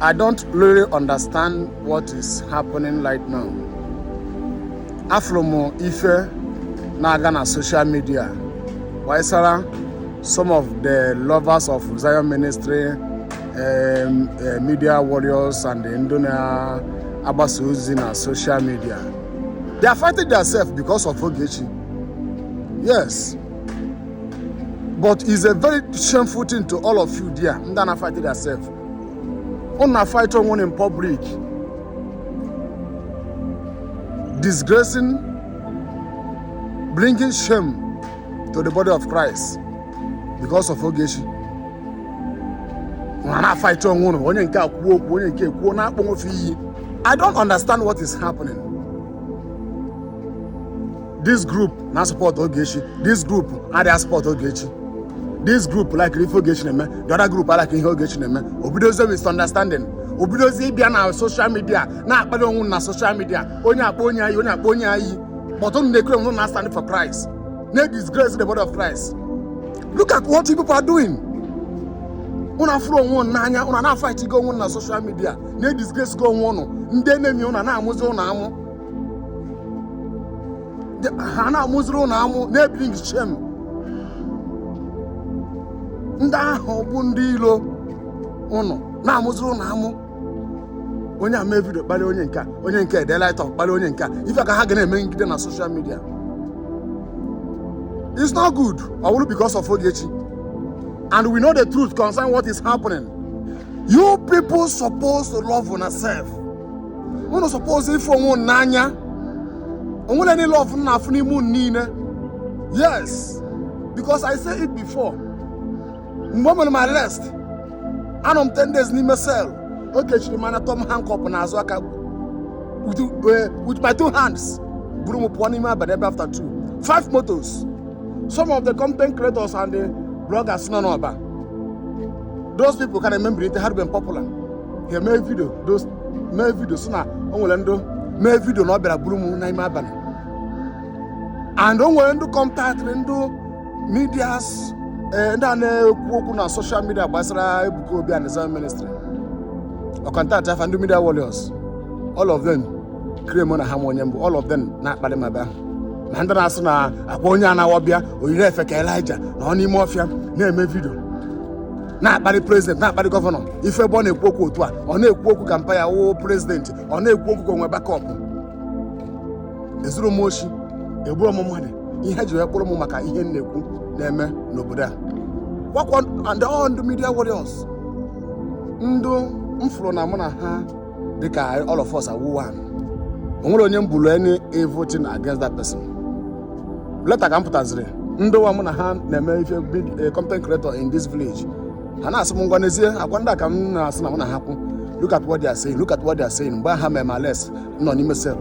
I don't really understand what is happening right now. Afụrụ m ife na-aga na social media gbasara some of the lovers of Zion Ministry um, uh, media warriors and the ndị na-agbasa ozi na social media. They are fighting themselves because of Ogechi. Yes. But it's a very shameful thing to all of you there. Ndana fighting themselves. unu na-afight onwe unu in public disgracing bringing shame to the body of Christ because of Ogechi unu na-afight onwe unu onye nke a kwuo okwu onye nke a ekwuo na-akpọ onwe fe iyi I don't understand what is happening this group na-asupport Ogechi this group adịghị asupport Ogechi this group like ife Ogechi na-eme the other group like ihe Ogechi na-eme obidozie misunderstanding obidozie ịbịa na social media na-akpalị onwe unu na social media onye a akpọ onye a iyi onye a akpọ onye a iyi but unu na-ekere onwe na stand for Christ na-edisgrace the body of Christ look at what you people are doing unu afụrọ onwe unu n'anya unu na-afightigo onwe unu na social media edisgracego onwe unu ndị enemy unu na-amụzi unu amụ ha na-amụziri unu amụ na-ebring shame ndị ahụ bụ ndị ilo unu na-amụziri unu amụ onye a eme video kpalịa onye nke a onye nke a ede writeup kpalịa onye nke a ife a ka ha ga na-emegide na social media it's not good all because of Ogechi and we know the truth concerning what is happening you people supposed to love yourself unu suppose ịfụ onwe unu n'anya o nwerọ any love m na-afụ n'ime unu niile yes because i say it before mgbe o mere m arrest anọ m 10 days n'ime cell o kechiri m anya tọọ m handcuff n'azụ aka with, eh, with my two hands buru m pụọ n'ime abalị ebe after two five motos some of the content creators and the bloggers nọ n'Ọba those people ka na-eme mbilite ha arịben popular ya mee video those- mee video si na o nwere ndị mee video na ọ bịara buru m n'ime abalị and o nwere ndị a contactịrị ndị medias eh, ndị a na-ekwu okwu na social media gbasara Ebuka Obi and Zion ministry ọ contactịa fa ndị media warriors all of them clear mụ na ha ama onye m bụ all of them na-akpalị ma bịa ma ndị na-asị na akwa onye anaghọ bịa o yiri efe ka Elijah nọ n'ime ọfịa na-eme video na-akparị president na-akparị governor ị fụ ebe ọ na-ekwu okwu otu a ọ na-ekwu okwu ka mpa ya wụ president ọ na-ekwu okwu ka o nwee backup ezuru m oshi egburu m mmadụ ihe e ji wee kpụrụ m maka ihe m na-ekwu na-eme n'obodo a gwakwa and all ndị media warriors ndị m fụrụ na mụ na ha dịka all of us are one o nwerọ onye m buru any evil thing against that person later ka m pụtaziri ndị ụwa mụ na ha na-eme ife big eh, content creator in this village ha na-asị m ngwa n'ezie akwa ndị a ka m na-asị na mụ na ha kwụ look at what they are saying look at what they are saying mgbe ha mere m arrest m nọ n'ime cell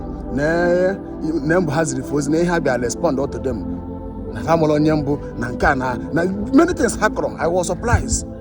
na mbụ ha ziri fe ozi na ihe ha bịa respond to them na ha amarọ onye m bụ na nke a na na many things ha kọrọ i was surprised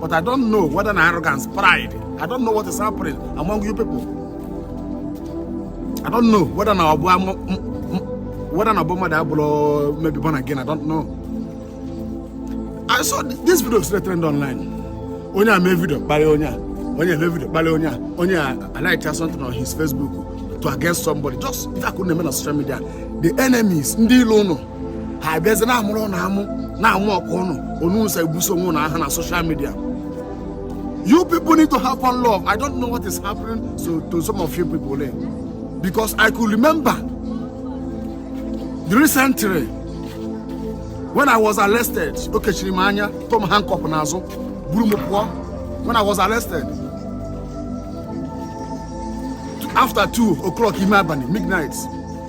but I don't know whether na arrogance, pride. I don't know what is happening among you people. I don't know whether na ọ bụ whether na ọ bụ mmadụ abụrụ maybe born again. I don't know. I saw this video still trend online. Onye a mee video kparịa onye a. Onye a mee video kparịa onye a. Onye a a-write-a something on his Facebook to against somebody. Just that couldn't na social media. The enemies, ndị ilo ụnụ. ha abịazi na-amụrụ ụnụ amụ na-amụ ọkụ ụnụ ụnụ na-ebuso onwe ụnụ agha na soshal midia you people need to have one love i don't know what is happening to, to some of you people there because i could remember the recently when i was arrested o kechiri m anya tụọ m handcuff n'azụ buru m pụọ when i was arrested after two o'clock ime abalị midnight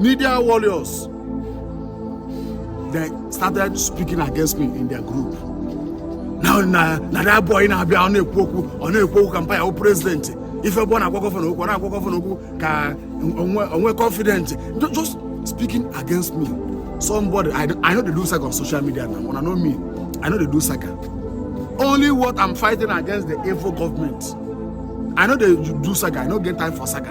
Media warriors, they started speaking against me in their group. Now, na, na that boy na-abịa ọ na-ekwu okwu ọ na-ekwu okwu ka mpa ya bụ prezidenti ife bụ ọ na-agwa gọvanọ okwu ọ na-agwa gọvanọ okwu ka o nwe o nwe confident Ju- just speaking against me somebody I, don't- I no dey do saga on social media now una know me I no dey do saga only what I'm fighting against the evil government I no dey do saga I no get time for saga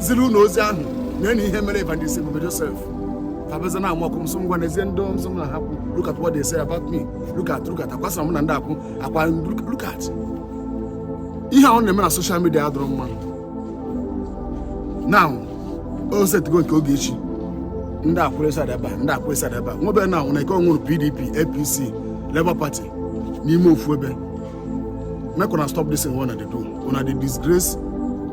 ziri ụnụ ozi ahụ nene ihe mere evangelist ebube joseph tabeze na amụọkụ m sị ngwa n'ezie ndị nsọ m na ha kwu look at what they say about me look at look at akwasịra m na ndị akwụ akwa look- look at ihe a ụnụ na-eme na soshal midia adịrọ mma now o setịgo nke Ogechi ndị a kwụrụ side ebe a ndị a kwụrụ side ebe a nwebe na nwere ike ọ nwụrụ pdp apc labour party n'ime ofu ebe make una stop this thing wey una dey do una dey disgrace